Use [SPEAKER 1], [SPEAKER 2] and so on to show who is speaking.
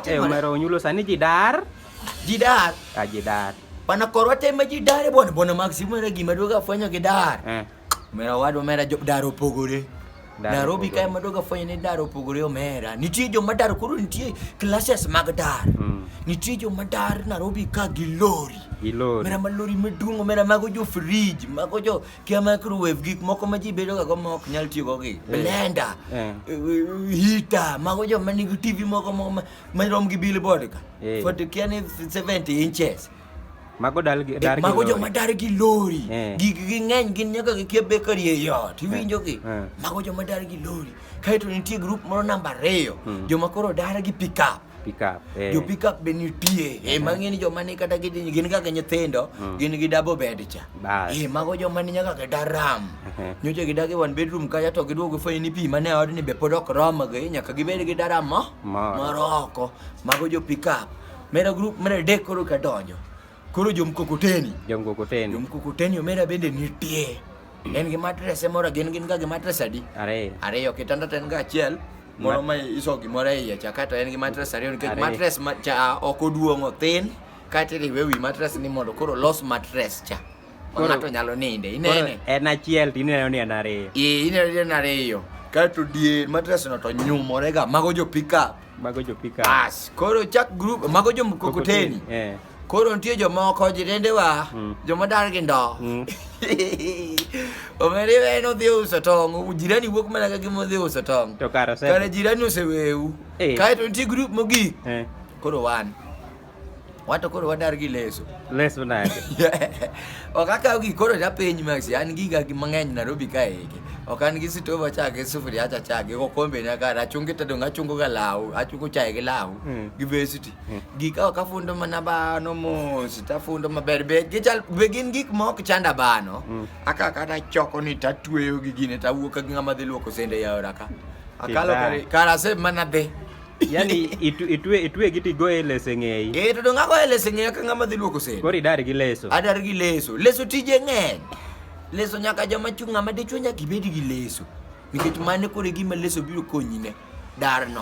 [SPEAKER 1] Eh, Omero onyulo sani ji
[SPEAKER 2] dar. Ji dar.
[SPEAKER 1] Ah, ji dar.
[SPEAKER 2] Pana korwa
[SPEAKER 1] tema ji dar e bwana bwana Max Omero gima duogo afwenyo gi dar. Eh. Omero wadwa omera jo dar opogore. Nairobi kae madogo afwenyo ni dar opogore omera. Nitie joma dar koro nitie classes mag dar. Mm. Nitie joma dar Nairobi ka gi lori. Gi lori. Omera ma lori maduong' omera mago jo fridge, mago jo Kia microwave gik moko ma ji bedoga go ma ok nyal tiyogo gi blender, Eh. heater, mago joma nigi TV moko ma- ma- marom gi billboard ka. Eh. For the kia ni 70 inches. Mago dal
[SPEAKER 2] gi dar gi mago lori. joma dar
[SPEAKER 1] gi lori Eh. gig gi ng'eny gin nyaka gikia bakery e ot iwinjo gi Eh. mago joma dar gi lori kaeto nitie grup moro namba ariyo joma koro dar gi pickup Pickup. Eh. Jo pickup be nitie. Eh, mang'eni joma ni kata gidhi gin kaka nyithindo, mm. gin gi double bed cha. Eh, mago joma ni nyaka kata ram. Nyocha gidagi one bedroom kacha to giduogo gifwenyo ni pi mane odni be pod ok romgi, nyaka gibed gi daram mo. Moro oko. Mago jo pickup. Mera group mera dek koro kadonjo. Koro jomkokoteni. Jomkokoteni. Jomkokoteni omera bende nitie. Mm. En gi matres e mora gin gin ga gi matres adi? Ariyo. Ariyo kitanda ten ga achiel. Moro ma iso gimoro e iye cha kata en gi matres ariyo nikech matres ma cha ok oduong' othin kata iriwe wi matres ni mondo koro los matres cha. Ng'ato nyalo ninde inene. En achiel to ineno
[SPEAKER 2] ni en ariyo. Ee ineno ni en ariyo.
[SPEAKER 1] Kato dier matres no to nyumore ga mago jo pick up. Mago jo pika. Bas, koro chak group mago jo mkokoteni. Eh. Koro nitie jomoko jirendewa, mm. joma dar gi ndo. Mm. Omeri en odhi uso tong', jirani wuok mana ka gima odhi uso tong'. To karo sebe. Kare jirani
[SPEAKER 2] oseweu.
[SPEAKER 1] Eh. Kae to nitie group mogik. Eh. Koro wan. wato koro wadar gi leso leso nade ok akaw gi koro ta piny max an giga gi mang'eny Nairobi ka eki ok an gi sitova cha gi sufuria cha cha gi kombe na kar achungi tedo achungo ga law achungo chae gi law mm. gi besiti mm. gika ok afundo mana bano mos tafundo maber be gichal be gin gik ma ok chanda bano mm. aka kata choko ni tatweyo gi gine tawuok gi ng'ama dhi luoko sende yaora ka akalo kar ase mana dhi yani
[SPEAKER 2] itu, itwe itwe giti go e lese ng'eyi eh to donga go e lese
[SPEAKER 1] ng'eyi ka ng'ama dhi luoko sende kori dar gi leso
[SPEAKER 2] adar gi leso leso
[SPEAKER 1] tije ng'eny leso nyaka joma chung' ng'ama dichwo nyaka ibed gi leso nikech mane kore gima leso biro konyine darno